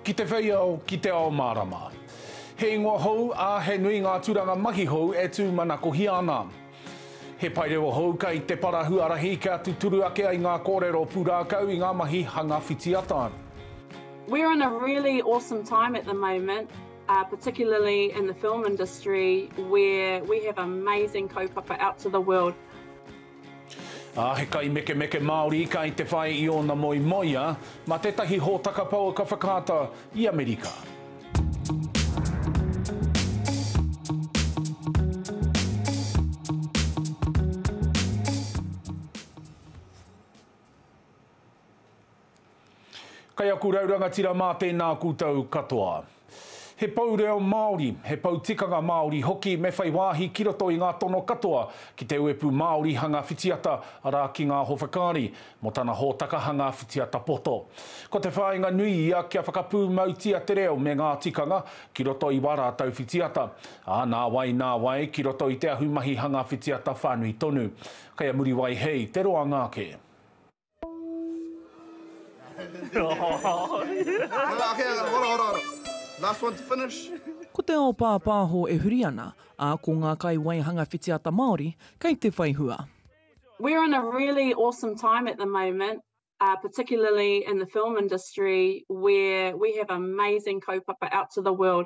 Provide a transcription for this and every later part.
Ki te whei ao, ki te ao mārama. He ingoa hou, ā, he nui ngā tūranga mahi hou e tūmanakohia ana. He paerewa hou kei te para huarahi kia tuturu ake ai ngā kōrero pūrākau i ngā mahi hanga whitiata. We're in a really awesome time at the moment. particularly in the film industry where we have amazing kaupapa out to the world. Ā, he kaimekemeke Māori kai te whai i ōna moemoeā mā tētahi hōtaka pouaka whakaata i Amerika. Kei aku rau rangatira mā tēnā koutou katoa. He pou reo Māori, he pou tikanga Māori hoki me whai wāhi ki roto i ngā tono katoa ki te uepū Māori hanga whitiata, arā ki ngā howhekaari, mō tana hōtaka hanga whitiata poto. Ko te whāinga nui ia kia whakapūmautia te reo me ngā tikanga ki roto i wā rātou whitiata, ā, nāwai nāwai ki roto i te ahumahi hanga whitiata whānui tonu. Kei a Muriwai hei te roanga ake. Ko te ao pāpāho e huri ana, ā, ko ngā kaiwaihanga whitiata Māori kei te whai hua. We're in a really awesome time at the moment, particularly in the film industry where we have amazing kaupapa out to the world.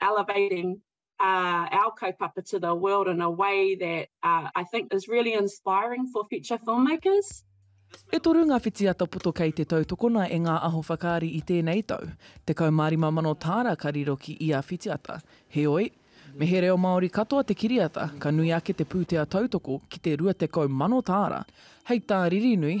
elevating uh, our kaupapa to the world in a way that uh, I think is really inspiring for future filmmakers. E toru ngā whitiata poto kei te tautokona e ngā aho whakaari i tēnei tau. Te kaumārima mano tāra ka riro ki ia whitiata. Heoi, me he reo Māori katoa te kiriata, ka nui ake te pūtea tautoko ki te rua tekau mano tāra. Hei tā Ririnui,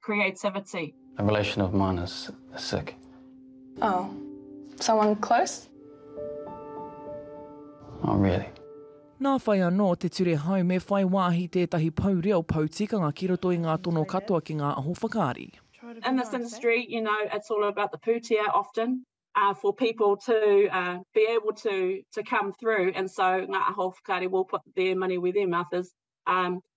creativity. A relation of mine is sick. Oh, someone close? Not really. Nā whai anō te ture hau me whai wāhi tētahi pou reo, pou tikanga ki roto i ngā tono katoa ki ngā aho whakaari. In this industry, you know, it's all about the pūtea often uh, for people to uh, be able to to come through and so ngā aho whakaari will put their money where their mouth is. Um,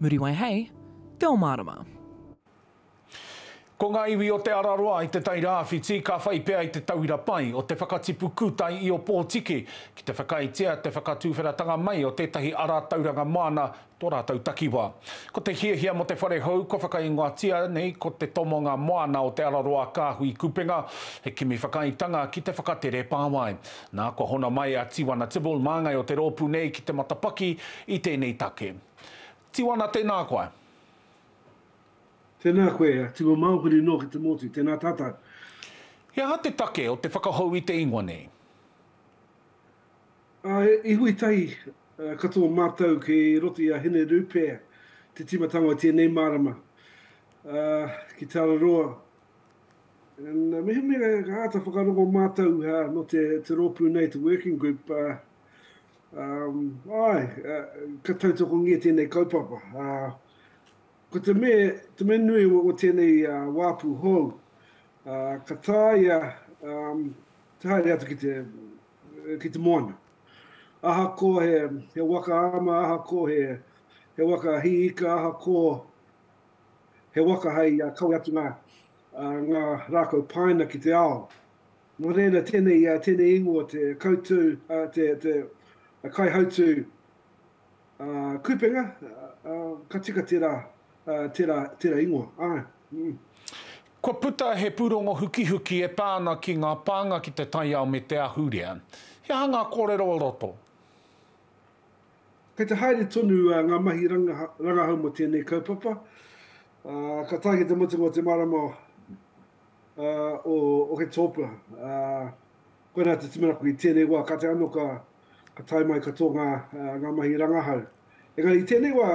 Muriwai hei Te o Marama. Ko ngā iwi o Te Araroa i Te Tai Rāwhiti ka whai pea i te tauira pai o te whakatipu kūtai i Opotiki ki te whakaaetia te whakatuwheratanga mai o tētahi ara tauranga māna tō rātou takiwā. Ko te hiahia mō te whare hou kua whakaingoatia nei ko Te Tomonga Moana o Te Araroa Kāhui Kupenga, he kimi whakaaetanga ki te whakatere pāwae. Nā, kua hona mai a Tiwana Tibble, māngai o te rōpū nei ki te matapaki i tēnei take. Tiwana tēnā koa. Tēnā koe, Tiwa Maokere noa ki te motu, tēnā tātou. He aha te take o te whakahou i te ingoa nei? A iwi tahi katoa mātou ki roto i a Hine Rupea te tīmatanga o tēnei marama ki Tararoa. Mehemea ka āta whakarongo mātou nō te rōpū nei, te working group, Ae, ka tautokongia tēnei kaupapa. Ko te mea nui o tēnei wāpu hou, ka tāia te haere atu ki te moana. Ahakoa he waka ama, ahakoa he waka hī ika, ahakoa he waka hei kawe atu ngā rākau pāina ki te ao, Nō reira tēnei tēnei ingoa te kautu te te kaihautū kupenga ka tika tērā tērā tērā ingoa āe mm. Kua puta he pūrongo hukihuki e pā ana ki ngā pānga ki te taiao me te ahurea. He aha ngā kōrero o roto? Kei te haere tonu ngā mahi rangahau mō tēnei kaupapa, ka tae ki te mutunga o te marama o. uh, o Oketopa. Uh, koina te timanako i tēnei wā, ka te ano ka, ka tae mai katoa ngā, uh, ngā mahi rangahau. Engari i tēnei wā,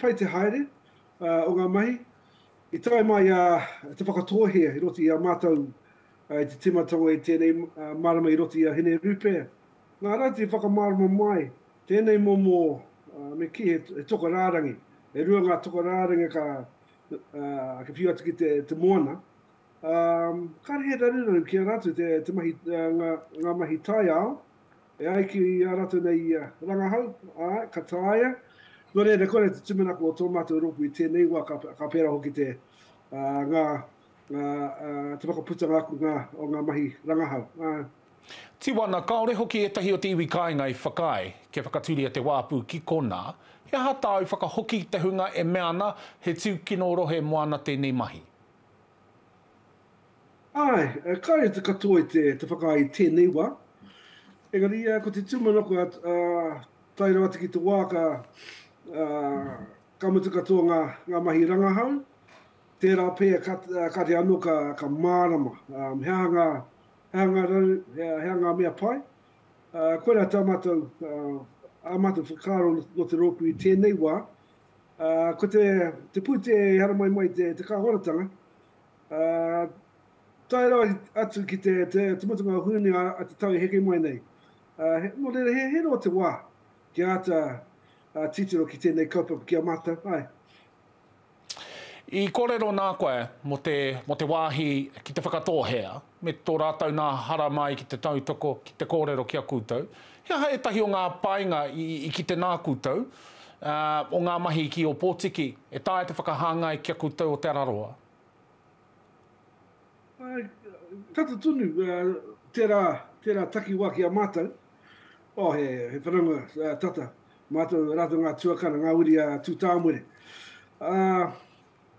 pai te haere uh, o ngā mahi. I tae mai a uh, te whakatōhea i roti a mātou uh, i te timatanga i tēnei uh, marama i roti a Hine Rupe. Ngā rā te whakamarama mai, tēnei momo uh, me ki he, he toka rārangi. E rua ngā toka rārangi ka, uh, ka whiu atu ki te, te moana, um, kāre he raruraru ki a rātou te, te mahi, uh, ngā, ngā mahi tai ao, e ai ki a rātou nei uh, rangahau, uh, ka tāia, Nō reira, kore te tumanako o tō mātou rōpū i tēnei wā, ka, ka pērā hoki te, uh, ngā, ngā, uh, te whakaputanga aku ngā, o ngā mahi rangahau. Uh, Tiwana, kāore hoki ētahi o te iwi kāinga i whakaae, kia whakatūria te wāpu ki konā, he aha tāu whakahoki ki te hunga e mea ana he tūkino rohe moana tēnei mahi? Āe, kāore te katoa i te whakaae i tēnei wā, engari ko te tūmanako tae rawa atu ki te wā ka mutu katoa ngā mahi rangahau, tērā pea kātahi anō ka mārama he aha ngā He anga rau, he anga mea pai. Koirā tā mātou, ā mātou whakaaro nō te rōpū i tēnei wā. Ko te pūtea e haramai mai te kāwanatanga, tae rawa atu ki te mutunga o Hūni a te tau e heke mai nei. Nō reira, he roa te wā kia āta titiro ki tēnei kaupapa ki a mātou. I kōrero nā koe mō te, mō te wāhi ki te whakatōhea, me tō rātou nā haramai ki te tautoko, ki te kōrero ki a koutou. He aha ētahi o ngā painga i, i kite nā koutou, ā, o ngā mahi ki Ōpōtiki, e taea te whakahāngai ki a koutou o Te Araroa? Ā, tata tonu, ā, tērā, tērā takiwā ki a mātou. Ō, he, he whanaunga, ā, tata. Mātou rātou ngā tuakana, ngā uri a Tūtāmore. Ā,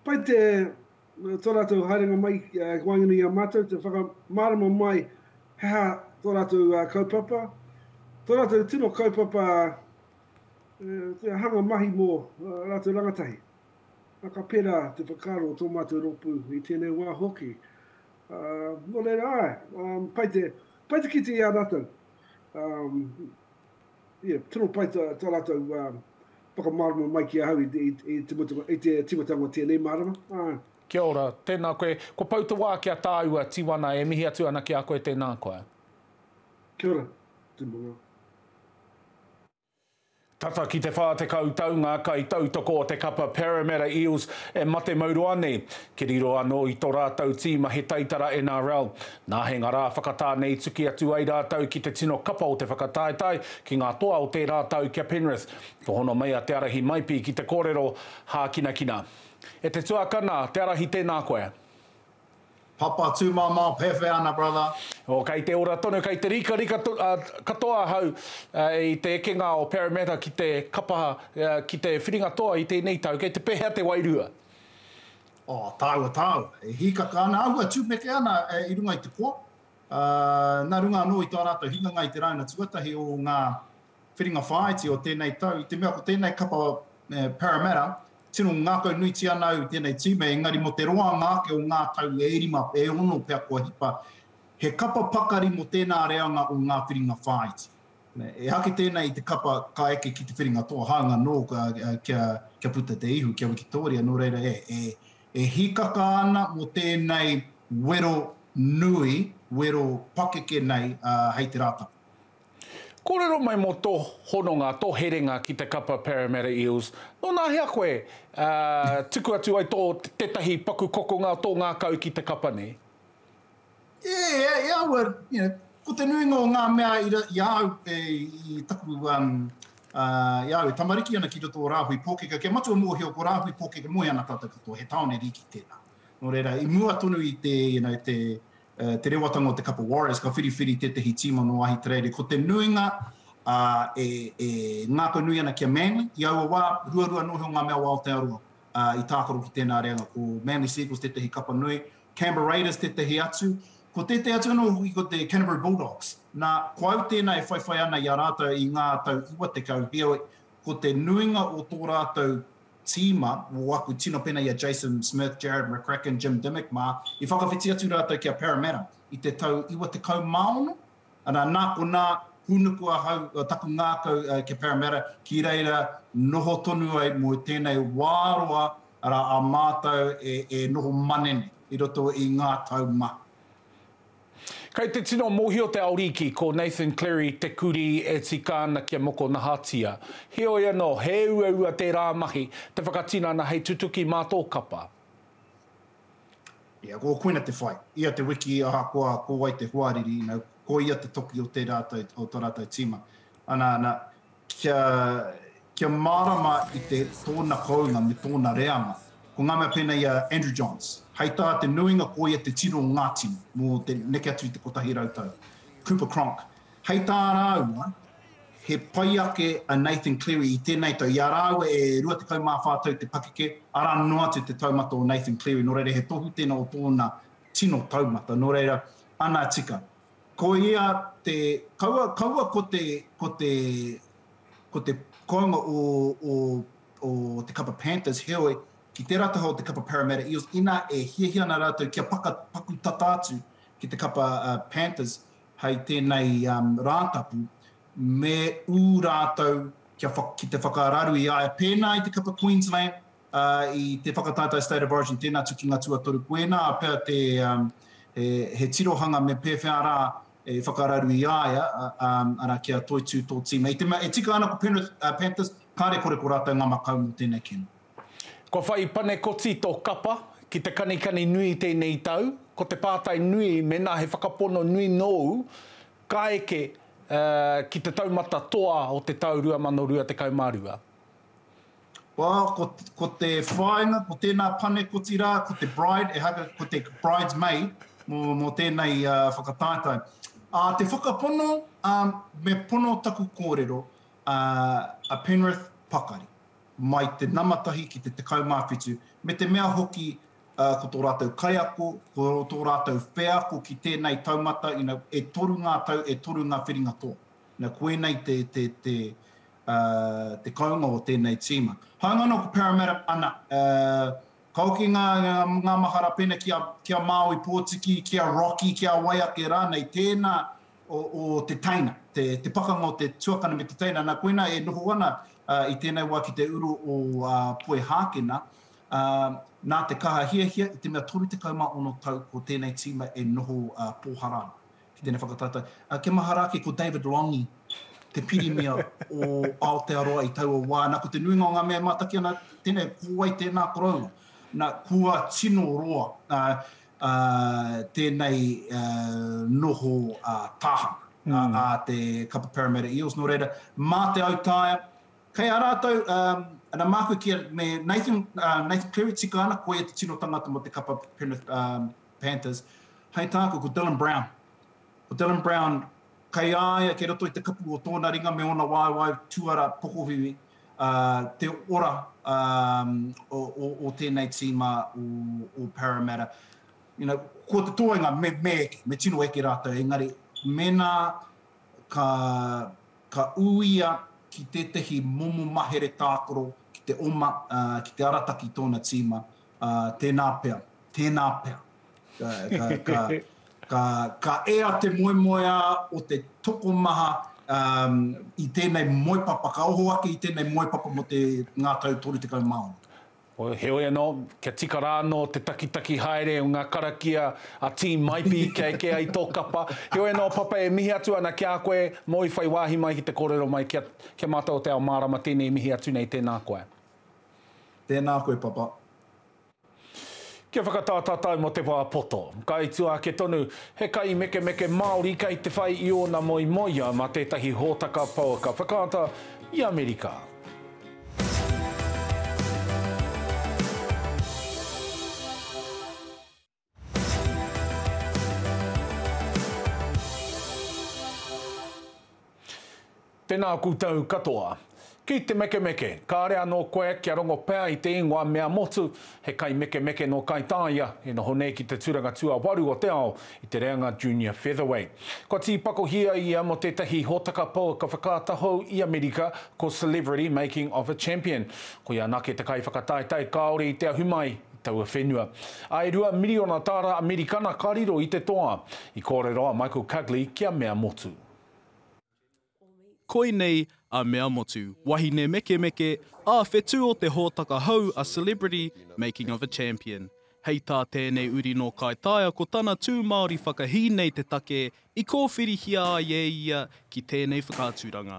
pai te, tō rātou haerenga mai ki waenganui i a mātou, te whakamārama mai he aha tō rātou kaupapa, tō rātou tino kaupapa te hanga mahi mō rātou rangatahi. Ā, ka pērā te whakaaro o tō mātou rōpū i tēnei wā hoki. Ā, nō reira, āe, pai te, pai te kite i a rātou. Ā, Ia, tino pai tā, tā rātou uh, whakamārama mai ki ahau i, i, i, te, mutunga, i te tīmatanga o tēnei mārama. Āe. Kia ora, tēnā koe. Ko Pou te wā kia tāua, Tiwana, e mihi atu ana ki a koe tēnā koa. Kia ora, tūmanga. Tata ki te 40 tau ngā kaitautoko o te kapa Parramatta Eels e mate mauroa nei. Ki riro anō i tō rātou tīma he taitara NRL. Nā he ngara whakatā nei tuki atu ai rātou ki te tino kapa o te whakataetae ki ngā toa o tērā tau ki a Penrith. Ka hono mai a Te Arahi Maipi ki te kōrero hākinakina. E te tuakana, te Arahi tēnā koe. Papa tūmamao pewhe ana brother. Oh kei te ora tonu, kei te rikarika katoa ahau i te ekenga o Parramatta ki te kapa, ki te whiringa toa i tēnei tau, kei te pehea te wairua? O, tāua, tāua. E hīkaka ana au, e tūmeke ana i runga i te koa, ā, nā runga anō i tā rātou hinganga i te rāuna tuatahi o ngā whiringa whāiti o tēnei tau, i te mea ko tēnei kapa Parramatta, tino ngākau nuitia ana au i tēnei tīma, engari mō te roanga ake o ngā tau e rima, e ono pea kua hipa, he kapa pakari mō tēnā reanga o ngā whiringa whāiti. E haki tēnei i te kapa ka eke ki te whiringa toa hanga nō kia puta te ihu, kia wikitōria, nō reira e hīkaka ana mō tēnei wero nui, wero pakeke nei hei te Rātana. Kōrero mai mō tō hononga, tō herenga ki te kapa Parramatta Eels, nō nā hea koe tuku atu ai tō tētahi paku kokonga o tō ngākau ki te kapa nei? Yeah, e aua, you know, ko te nuinga o ngā mea i, i a au, e, i taku, um, uh, i a au e tamariki ana ki roto o Rāhui Pōkeka, kia matua mōhio ko Rāhui Pōkeka moe ana tātou katoa, he tāone rīki tēnā. Nō reira, i mua tonu i te, you know, te, uh, te rewatanga o te Kapa Warriors, ka whiriwhiri tētahi tīma nō Ahitereiria, ko te nuinga, uh, e, e ngākau nui ana kia Manly, i aua wā, ruarua noho ngā mea o Aotearoa, uh, i tākaro ki tēnā reanga, ko Manly Sea Eagles tētahi kapa nui, Canberra Raiders tētahi atu, ko tētahi atu anō hoki ko te Canterbury Bulldogs. Nā, ko au tēnā e whaiwhai ana i a rātou i ngā tau iwa tekau, heoi, ko te nuinga o tō rātou tīma, o aku tino pēnā i a Jason Smith, Jarrad McCracken, Jim Dimmick mā, i whakawhiti atu rātou ki a Parramatta i te tau iwa tekau mā ono, Ana, nā konā, hūnuku ahau taku ngākau ki Parramatta, ki reira noho tonu ai mō tēnei wā roa, arā, a mātou e noho manene i roto i ngā tau maha. Kei te tino mōhio te Ariki, ko Nathan Clery te kurī e tika ana kia mokonahatia. Heoi anō, he uaua tērā mahi, te whakatinana hei tutuki mā tō kapa. Ia, ko koina te whai. Ia te wiki ahakoa ko wai te hoariri, ina, ko ia te toki o te rātou, o to rātou tīma. Ana, ana, kia, kia mārama i te, tōna kounga me tōna reanga. Ko ngā mea pēnei a Andrew Johns, hei tā te nuinga ko ia te tino o ngā tini, mō te neke atu i te kotahi rau tau. Cooper Cronk, hei tā rāua, He pai ake a Nathan Cleary i tēnei tau, i a rāua e 24 tau te pakeke, arā noa atu te taumata o Nathan Cleary, nō reira he tohu tēnā o tōna tino taumata, nō reira, ana tika. Ko ia te, kaua, kaua ko te, ko te, ko te kounga o, o, o te kapa Panthers, heoi, ki tērā taha o te kapa Parramatta Eels, inā e hiahia ana rātou kia paka, paku tata atu ki te kapa uh, Panthers, hei tēnei Rātapu, me ū rātou kia ki te whakararu i a ia pēnā i te kapa Queensland i te whakataetae State of Origin, tēnā tukinga tuatoru koinā pea te he tirohanga me pēwhea rā e whakararu i a ia, arā, kia toitū tō tīma. E tika ana ko Penrith Panthers, kāre kore ko rātou ngā makau mō tēnei kēmu. Kua whai panekoti tō kapa ki te kanikani nui tēnei tau, ko te pātai nui mēnā he whakapono nui nōu ka eke ki te taumata toa o te tau 2022. Wā, ko te whāinga, ko tēnā panekoti rā, ko te bride, ehaka ko te bride's maid mō tēnei whakataetae. Te whakapono, me pono taku kōrero, a Penrith Pakari. mai te nama tahi ki te tekau mā whitu, me te mea hoki ko tō rātou kaiako, ko tō rātou wheako ki tēnei taumata, e toru ngā tau, e toru ngā whiringa toa. Nā, ko ēnei te kounga o tēnei tīma. Hāunga anō ko Parramatta, ana, ka hoki ngā mahara pēnei ki a Māui Pōtiki, ki a Rocky, ki a wai ake rānei, tēnā o te teina, te pakanga o te tuakana me te teina. Nā koina e noho ana i tēnei wā ki te uru o Poe Hākena, nā te kaha hiahia i te mea 36 tau ko tēnei tīma e noho pōhara ana ki tēnei whakataetae. Kia mahara ake ko David Lange, te pirimia o Aotearoa i taua wā. Nā ko te nuinga o ngā mea e mātaki ana, tēnei, ko wai tēnā koroua. Nā, kua tino roa. ā, tēnei noho tāhanga ā te kapa Parramatta Eels, nō reira, mā te autaia, kei a rātou, ana, māku ki a, me Nathan, Nathan Cleary tika ana, koia te tino tangata mō te kapa Penrith Panthers, hei tāku, ko Dylan Brown, Ko Dylan Brown, kei a ia kei roto i te kapu o tōna ringa me ōna waewae tuara pokohiwi te ora o tēnei tīma o Parramatta. Ko te toenga, me eke, me tino eke rātou, engari mēnā ka ū ia ki tētahi momo mahere tākaro ki te oma, ki te arataki tōna tīma, ā, tēnā pea, tēnā pea. Ka, ka, ka, ka, ka ea te moemoeā o te tokomaha um, i tēnei moepapa, ka oho ake i tēnei moepapa mō te ngā tau 36. Heoi anō, kia tika rā anō te takitaki haere o ngā karakia a Team Maipi kia eke ai tō kapa. Heoi anō, Papa, e mihi atu ana ki a koe, mō i whai wāhi mai ki te kōrero mai, kia, kia mātau o te ao mārama tēnei mihi atu nei, tēnā koe. Tēnā koe papa. Kia whakatā tātou mō te wā poto. Kai tua ake tonu, he kaimekemeke Māori kei te whai i ōna moemoeā mā tētahi hōtaka pouaka whakaata i Amerika. Tēnā koutou katoa. Ki te mekemeke, kāre anō koe kia rongo pea i te ingoa Mea Motu, he kaimekemeke nō Kaitāia, i noho nei ki te tūranga tuawaru o te ao i te reanga Junior Featherweight. Kua tīpakohia ia mō tētahi hōtaka pouaka whakaata hou i Amerika ko Celebrity Making of a Champion. Koia anake te kaiwhakataetae kāore i te ahu mai, taua whenua. Ā, e rua miriona tāra Amerikana ka riro i te toa. I kōrero a Michael Cugley ki a Mea Motu. Koinei a Mea Motu, wahine mekemeke, ā, whetū o te hōtaka hou A Celebrity, Making of a Champion. Hei tā tēnei uri nō Kaitaia ko tana tū Māori whakahī nei te take i kōwhirihia ai e ia ki tēnei whakaaturanga.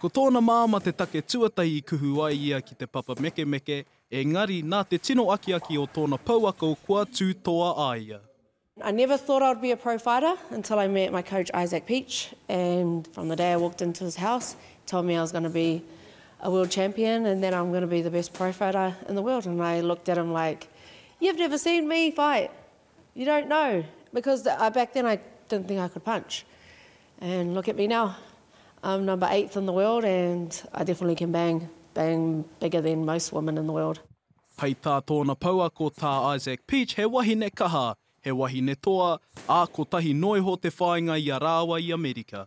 Ko tōna māmā te take tuatahi i kuhu ai ia ki te papa mekemeke, engari nā te tino akiaki o tōna pouako kua tū toa a ia. I never thought I would be a pro fighter until I met my coach Isaac Peach and from the day I walked into his house he told me I was going to be a world champion and that I'm going to be the best pro fighter in the world and I looked at him like you've never seen me fight! You don't know because I back then I didn't think I could punch and look at me now I'm number eighth in the world and I definitely can bang bang bigger than most women in the world. Pai tā tōna pouako tā Isaac Peach he wahine kaha, he wahine toa, ā kotahi noa iho te whāinga i a rāua i Amerika.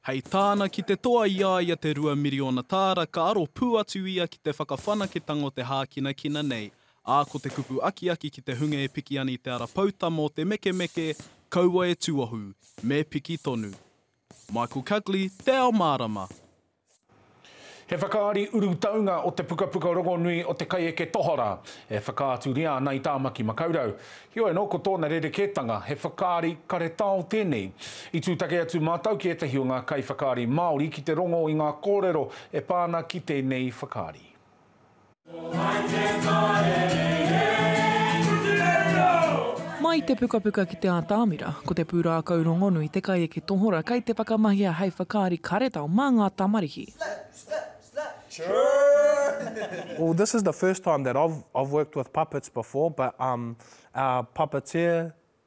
Hei tāna ki te toa i a ia te rua miriona tāra ka aro pū atu ia ki te whakawhanaketanga o te hākinakina nei, ā, ko te kupu akiaki ki te hunga e piki ana i te ara poutama o te mekemeke, kaua e tuohu, me piki tonu. Michael Cugley, Te Ao Mārama. He whakaari urutaunga o te pukapuka rongonui o te kaieke tohara e whakaaturia ana i Tāmaki Makaurau. Heoi anō, ko tōna rerekētanga, he whakaari karetao tēnei. I tūtaki atu mātou ki ētahi o ngā kaiwhakaari Māori ki te rongo i ngā kōrero e pā ana ki tēnei whakaari. Mai i te pukapuka ki te ātamira, ko te pūrākau rongonui te kaieke tohora kei te whakamahia hei whakaari karetao mā ngā tamariki.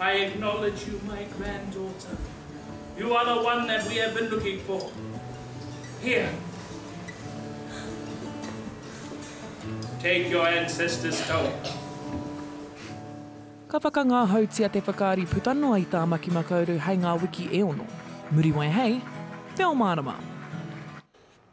I acknowledge you my grand daughter, you are the one that we have been looking for here. Take your ancestors toa. Ka whakangahautia te whakaari puta noa i Tāmaki Makauru hei ngā wiki e ono. Muriwai hei Te Ao Mārama!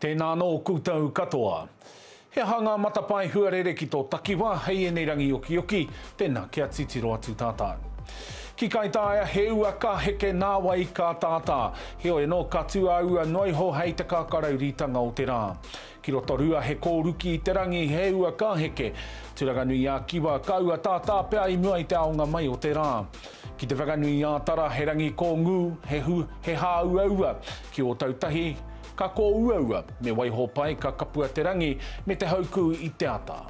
Tēnā anō koutou katoa. He aha ngā matapae huarere ki tō takiwā hei ēnei rangi okioki? Tēnā, kia titiro atu tātou. Ki Kaitaia, he ua ka heke nā wai ka tātā. Heoi anō, ka tū a ua noa iho hei te kākarauritanga o te rā. Ki Rotorua, he kōruki i te rangi, he ua ka heke. Turanganui-ā-Kiwa, ka ua tātā pea i mua i te aonga mai o te rā. Ki Te Whanganui-ā-Tara, he rangi kōngū, he hāuaua. Ki Ōtautahi, ka kōuaua, me waiho pai ka kapua te rangi me te haukū i te ata.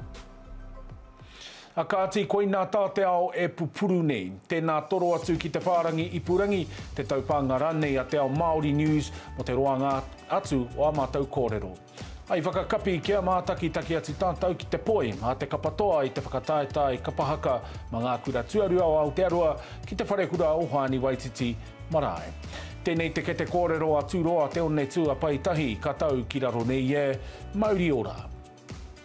A kāti, koinā tā te ao e pupuru nei. Tēnā toro atu ki te whārangi ipurangi, te taupānga rānei a Te Ao Māori News mō te roanga atu o ā mātou kōrero. I whakakapi kia mātakitaki atu tātou ki te poi a Te Kapatoa i te whakataetae kapa haka mā ngā kura tuarua o Aotearoa ki Te Wharekura o Hoani Waititi marae. Tēnei te kete kōrero a Tūroa Te Onetū a Paetahi ka tau ki raro nei e, mauri ora.